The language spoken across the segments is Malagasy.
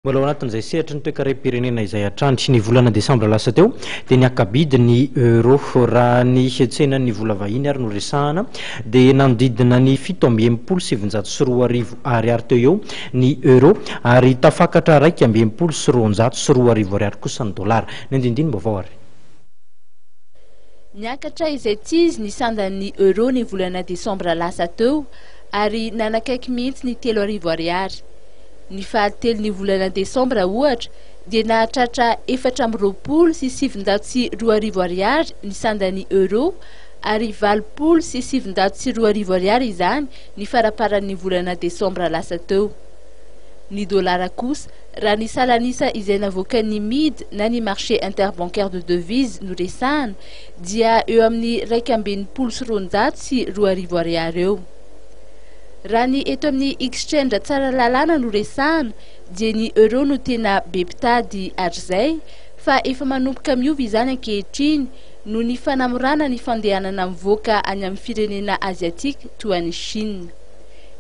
Mbola ao anatin'izay sehatry ny toekarem-pirenena izay hatrany. Ny volana desambra lasa teo dia niaka-bidy ny euro. Raha ny tsenan'ny vola vahiny ary no resahana dia nanodidina ny fito amby enimpolo sy sivinjato sy roa arivo ariary teo eo ny euro ary tafakatra iraika amby enimpolo sy roanjato sy roa arivo ariary kosa ny dolara. Ny andindinim-baovao ary. Niakatra izay tsy izy ny sandan'ny euro ny volana desambra lasa teo ary nanakaiky mihitsy ny telo arivo ariary. Ny fahatelon'ny volana desambra, ohatra, dia nahatratra efatra amby roapolo sy sivinjato sy roa arivo Ariary ny sandan'ny euro, ary valopolo sy sivinjato sy roa arivo Ariary izany ny faraparan'ny volana desambra lasa teo. Ny dolara kosa, raha ny salan'isa izay navoakan'ny mid na ny marché interbancaire de devises no resahana, dia eo amin'ny iraika amby enimpolo sy roanjato sy roa arivo Ariary eo. Raha ny eto amin'ny Exchange Tsaralalana no resahana dia ny Euro no tena be mpitady hatrizay fa efa manomboka miova izany ankehitriny noho ny fanamorana ny fandehanana mivoaka any amin'ny firenena Aziatika toa an'i Chine.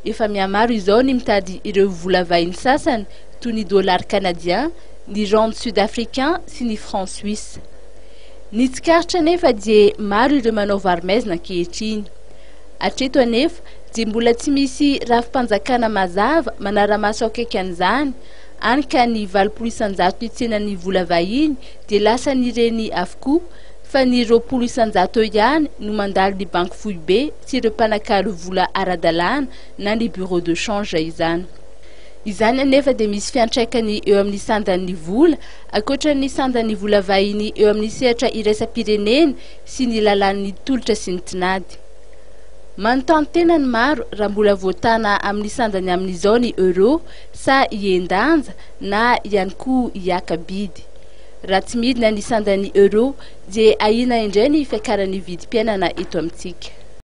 Efa mihamaro izao ny mitady ireo vola vahiny sasany toy ny Dollars Canadiens, ny Rand Sud-Africains sy ny Francs Suisses. Ny tsikaritra anefa dia maro ireo manao varo-maizina ankehitriny. Hatreto anefa dia mbola tsy misy rafi-panjakana mazava manara-maso akaiky an'izany, hany ka ny valopolo isan-jato nitsenan'ny vola vahiny dia lasan'ireny avokoa, fa ny roapolo isan-jato eo ihany no mandalo ny banky foibe sy ireo mpanakalo vola ara-dalàna na ny bureau de change izany. Izany anefa dia misy fiantraikany eo amin'ny sandan'ny vola, ankoatra ny sandan'ny vola vahiny eo amin'ny sehatra iraisam-pirenena sy ny lalàn'ny tolotra sy ny tinady. Manontany tena ny maro raha mbola voatàna amin'ny sandan'ny amin'izao ny Euro sa hihen-danja na ihany koa hiaka bidy. Raha tsy midina ny sandan'ny Euro dia ahiana indray ny fiakaran'ny vidim-piainana eto amintsika.